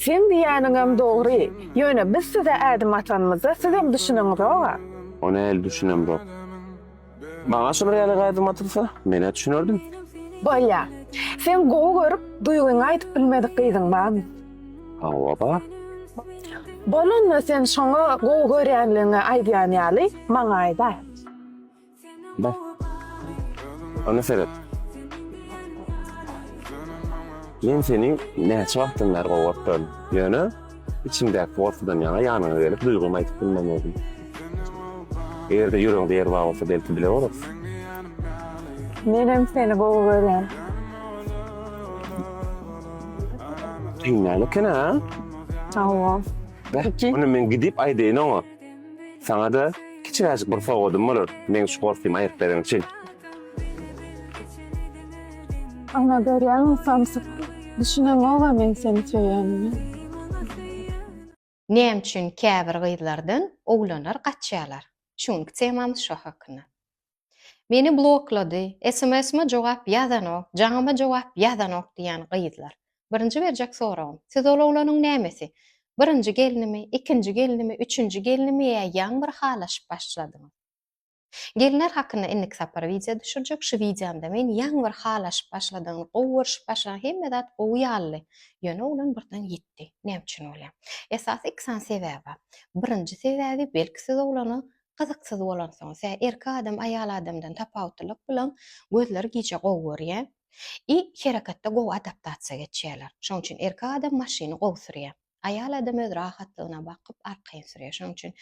Seň diýýäniňem dogry. Ýöne biz size ädim atanymyzda sizem düşüneňizog-a. Ony heli düşünemzok. Maňa şular ýaly ädim atylsa, men-ä düşünerdim. Bolýa. Seň gowy görüp, duýgyňy aýdyp bilmedik gyzyň barmy? Hawa, bar. Bolanda sen şoňa gowy görýänligiňi aýdýan ýaly, maňa aýda. Bar. Onda seret. Men seni näçe wagtdan bäri gowaryp duryn. Ýöne içimdäki gorkudan ýaňa ýanyňa gelip duýgymy aýdyp bilmemezdim. Eger-de ýüregiňde ýer bar bolsa belki bile bolarys. Menem seni gowy görýän. Dynýan eken-a. Hawa. Bar. Onda men gidip aýdaýyn oňa. Saňa-da kiçiräjik bir sowgadym bolar, meň şu gorsymy aýryp bereň üçin. Ana, görýäňmi, samsyk, düşüneňog-a men seni söýenimi. Näme üçin käbir gyzlardan oglanlar gaçýarlar? Şu günki temamyz şo hakynda. Meni bloklady, sms-ma jogap ýazanok, jaňama jogap ýazanok diýýän gyzlar. Birinji berjek soragym, siz ol oglanyň nämesi? Birinji gelnimi, ikinji gelnimi, üçünji gelnimi ýa ýaň bir halaşyp başladyňyz? Gelinler hakynda indiki sapar wideo düşürjek, şu wideomda men ýaň bir halaşyp başladygyny, gowy görşüp başlaň hemme zat gowy ýalydy, ýöne oglan birden ýitdi. Näme üçin bolýa? Esasy iki sany sebäbi bar. Birinji sebäbi belki siz oglana gyzyksyz bolansoň, sä erkek adam aýal adamdan tapawutlylyk bilen gözleri gije gowy görýä i hereketde gowy adaptasiýa geçýäler. Şoň üçin erkek adam maşyny gowy sürýä. Aýal adam öz rahatlygyna bakyp arkaýyn sürýä. Şoň üçin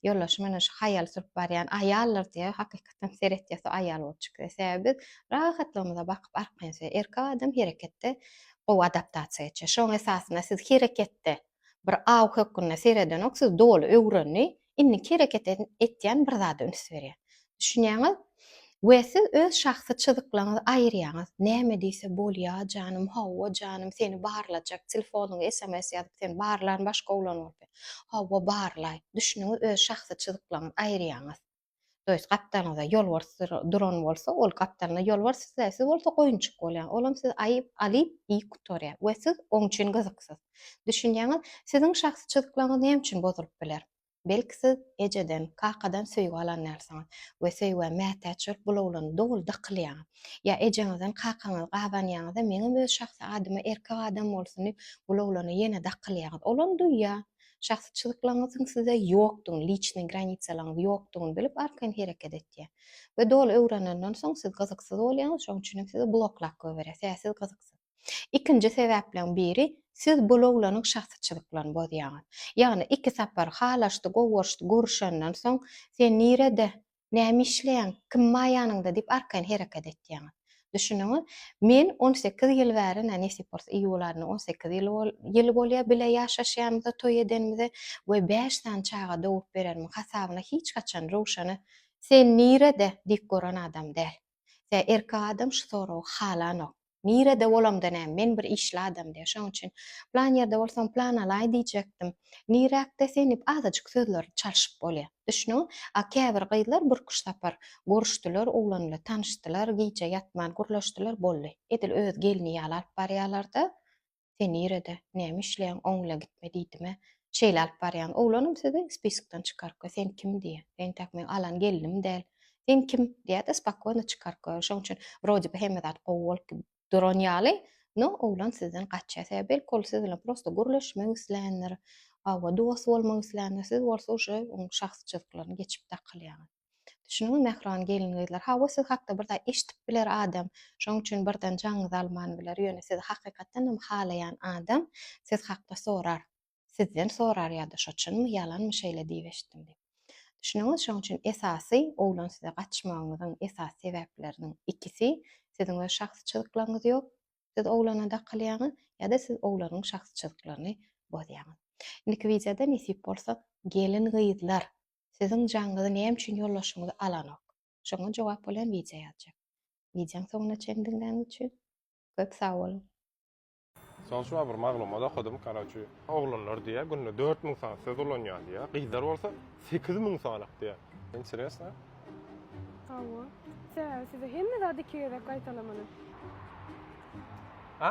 ýoldaşy mena şu haýal sürüp barýan aýaldyr diýýä, hakykatdan seretýä so aýal bolup çykýa. Sebäbi biz rahatlygymyza bakyp arkaýyn sürýä. Erkek adam hereketde gowy adaptasiýa geçýä. Şoň esasynda siz hereketde Bir aw hökgünde seredenok siz doly öwrendi indiki hereket etýän bir zada üns berýär. Düşünýäňiz? We siz öz şahsy çyzyklaňyzy aýyrýaňyz näme diýse bolýa janym hawwa janym seni barlajak telefonyňa sms ýazyp seni barlan başga oglan bolsa hawwa barlaý düşüniňiz öz şahsy çyzyklaňyzy aýyrýaňyz. To ýest gapdalyňyza ýolbars duran bolsa, ol gapdalyna ýolbars sizä, siz bolsa goýunjyk bolýaň. Olam sizi aýyp, alyp, iýip gutarýar we siz oň üçin gyzyksyz. Düşünýäňiz, siziň şahsy çyzyklaryňyz näme üçin bozulyp biler? Belki siz ejeden, kakadan söýgi alan dälsiňiz we söýgä mätäç bolup bulawlanyp doly dakylýaňyz. Ýa ejeňizden, kakaňyzy gabanýaňyz-da, meňem öz şahsy adyma erkek adam bolsun diýip bulawlana ýene dakylýaňyz. Olam duýýar. Şahsyçylyklaryňyzyň size ýokdugyny, liçnyý granitsalaryňyz ýokdugyny bilip arkaýyn hereket etýär. We doly öwrenenden soň siz gyzyksyz bolýaňyz, şoň üçin hem sizi bloklap goýberýär, sebäbi siz gyzyksyz. Ikinji sebäpleň biri, siz bul oglanyň şahsyçylyklaryny bozýaňyz. Ýagny iki sapar halaşdy, gowy görüşdi, görüşenden soň sen nirede Näme işleýäň? Kim bar ýanyňda? diýip arkaýyn hereket etýäňiz. Düşüniňiz, men on sekiz ýyl bäri, nä nesip bolsa iýul aýynda on sekiz ýyl bolýar bile ýaşaşýanymyza, toý edenimize we bäş sany çaga dogrup berenimiň hasabyna hiç haçan Röwşene Sen nirede? diýip gören adam däl. Tä erkek adam şu soragy halanok. Nirede bolamda näme, men bir işli adam diýýär. Şonuň üçin plan ýerde bolsam plan alaý diýjekdim. Niräkde sen diýip azajyk sözleri çalşyp bolýar. Düşnüňmi? A käbir gyzlar birküç sapar görüşdiler, oglan bilen tanyşdylar, gije ýatman gürleşdiler, boldy. Edil öz gelni ýaly alyp barýarlar-da. Sen nirede, näme işleýäň, oň ile gitme diýdim-ä. Şeýle alyp barýan oglanym sizi spiskden çykarypka, sen kim diýýä. Entäk meň alan gelnim däl. Sen kim? diýýä-de, spokýono çykaryp goýar. Şoň üçin wrode bi hemme zat gowy bolup duran ýaly, no oglan sizden gaçýar. Sebäbi belki ol siz bilen prosto gürleşmek isländir, hawa, dost bolmak isländir, siz bolsa uje oň şahsyjylyklaryny geçip dakylýaňyz. Düşüniňiz mähriban gelin-gyzlar. Hawa, siz hakda bir zat eşidip biler adam. Şonuň üçin birden jaňyňyzy alman biler. Ýöne sizi hakykatdan hem halaýan adam siz hakda sorar. Sizden sorar ýa-da şo çynmy, ýalanmy şeýle diýip eşitdim diýip. Düşüniňiz, şonuň üçin esasy oglan size gaçmagyňyzyň esasy sebäpleriniň ikisi siziň öz şahsy çyzyklaryňyz ýok, siz oglana dakylýaňyz ýa-da siz oglanyň şahsy çyzyklaryny bozýaňyz. Indiki wideoda nesip bolsa gelin-gyzlar Siziň jaňyňyzy näme üçin ýoldaşyňyz alanok? Şoňa jogap bolýan wideo ýazjak. Wideoň soňuna çen diňläniň üçin köp sag boluň! Soň şuwagt bir maglumat okadym karoçi oglanlar diýýär günde dört müň sany söz ulanýar diýýär gyzlar bolsa sekiz müň sanyk diýýär interesno. Hawa. Sebäbi size hemme zady iki gezek gaýtalamaly. A?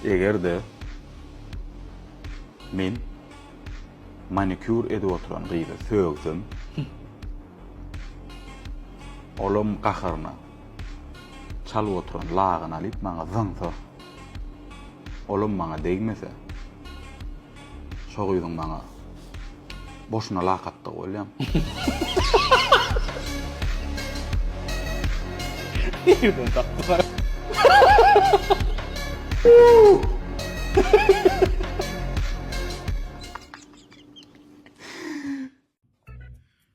Eger-de men manikýur edip oturan gyzy sögsem, olam gaharyna çalyp oturan lagyny alyp maňa zyňsa, olam maňa degmese, Şo gyzyň maňa boşuna lak atdygy bolýam. Nirden tapdylar?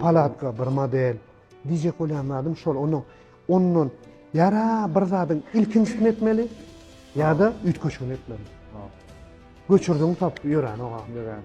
Palatka bir model. Diýjek bolýan zadym şol. Ondan ondan ýara bir zadyň ilkinjisini etmeli ýa-da üýtgeşigini etmeli. Göçürdiň tap ýörän oga. Ýörän.